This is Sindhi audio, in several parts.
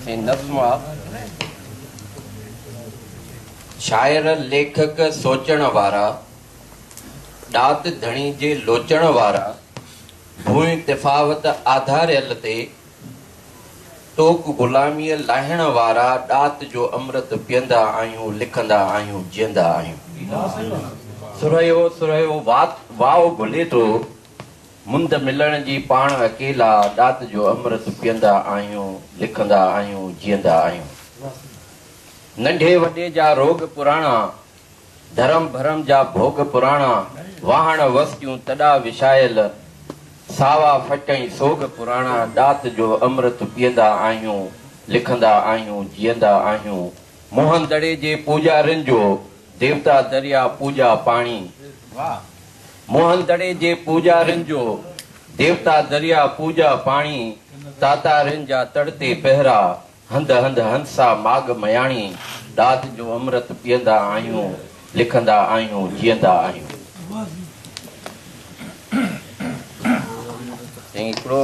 ۽ نظم آ شاعر ليکڪ سوچڻ وارا ڏات ڌڻي جي لوچڻ وارا ڀونء تفاوت آڌاريل تي توڪ غلاميء لاهڻ وارا ڏات جو امرت پيئندا آهيون لکندا آهيون جيئندا آهيون. سرهيو سرهيو وات واء گهلي ٿو مند ملڻ جي پاڻ اڪيلا ڏات جو امرت پيئندا آهيون لکندا آهيون جيئندا آهيون. ننڍي وڏي جا روڳ پراڻا ڌرم ڀرم جا ڀوڳ پراڻا، واهڻ وسڪيون تڏا وشايل، ساوا ڦٽ ۽ سوڳ پراڻا، ڏات جو امرت پيئندا آهيون، لکندا آهيون، جيئندا آهيون، موهن دڙي جي پوڄارين جو، ديوتا دريا پوڄا پاڻي، موهن دڙي جي پوڄارين جو، ديوتا دريا پوڄا پاڻي، تاتارين جا تڙ تي پهرا، هنڌ هنڌ هنسا ماڳ مياڻي ڏاڌ جو امرت پيئندا آهيون لکندا آهيون جيئندا آهيون. سائين هڪڙو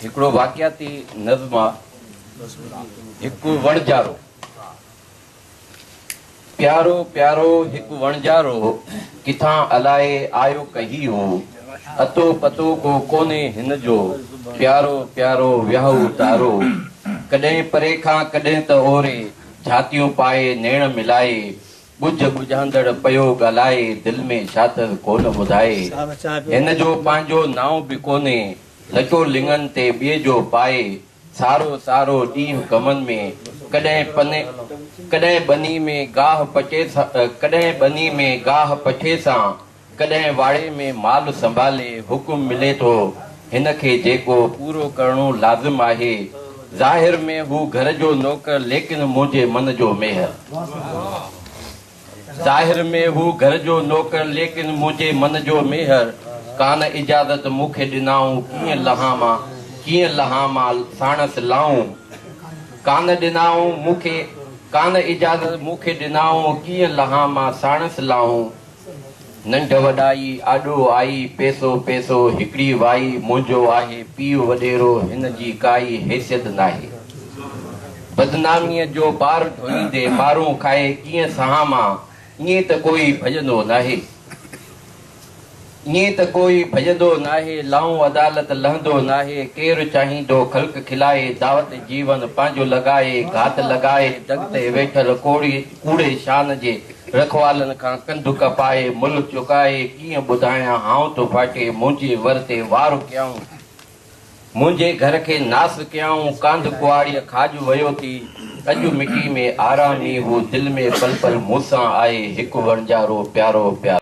هڪڙو واقعاتي نظم آ هڪ وڻجارو پيارو پيارو هڪ وڻجارو، ڪٿان الائي آيو ڪهي هو، اتو پتو ڪو ڪونهي هن جو، پيارو پيارو ويهو تارو، ڪڏهن پري کان ڪڏهن ته اوري، ڇاتيون پائي نيڻ ملائي، ڳجهه ڳجهاندڙ پيو ڳالهائي، دل ۾ شاٿس ڪونه ٻڌائي، هن جو پنهنجو نانء به ڪونهي، لچو لڱن تي ٻئي جو پائي، سارو سارو ڏينهن ڪمن ۾، ڪڏهن پن ڪڏهن ٻني ۾ گاهه پچي ڪڏهن ٻني ۾ گاهه پچي سان ڪڏهن واڙي ۾ مال سنڀالي حڪم ملي ٿو هن کي جيڪو پورو ڪرڻو لازم آهي ظاهر ۾ هو گهر جو نوڪر ليڪن منهنجي من جو ميهر. ظاهر ۾ هو گهر جو نوڪر ليڪن منهنجي من جو ميهر ڪان اجازت مون کي ڏنائون ڪيئن لهان مان ڪيئن لهان مان ساڻس لائون ڪان ڏنائون مون کي ڪان اجازت مون کي ڏنائون ڪيئن لهان مان ساڻس لائون. ننڍ وڏائي آڏو آئي، پيسو پيسو هڪڙي وائي، منهنجو آهي پيء وڏيرو، هن جي ڪائي حيثيت ناهي. بدناميء جو بار ڍوئيندي، مارون کائي ڪيئن سهان مان، ائين ته ڪوئي ڀڄندو ناهي. ائين ته ڪوئي ڀڄندو ناهي، لهون عدالت لهندو ناهي، ڪير چاهيندو خلق کلائي، دعوت جيون پنهنجو لڳائي، گهات لڳائي، دڳ تي ويٺل ڪوڙي، ڪوڙي شان جي رکوالن کان ڪنڌ ڪپائي، ملهه چڪائي، ڪيئن ٻڌايان هانء ٿو ڦاٽي، منهنجي ور تي وار ڪيائون، منهنجي گهر کي ناس ڪيائون، ڪانڌ ڪهاڙيء کاڄ ويو ٿي، اڄ مٽي ۾ آرام ئي هو، دل ۾ پل پل مون سان آهي، هڪ وڻجارو پيارو پيارو.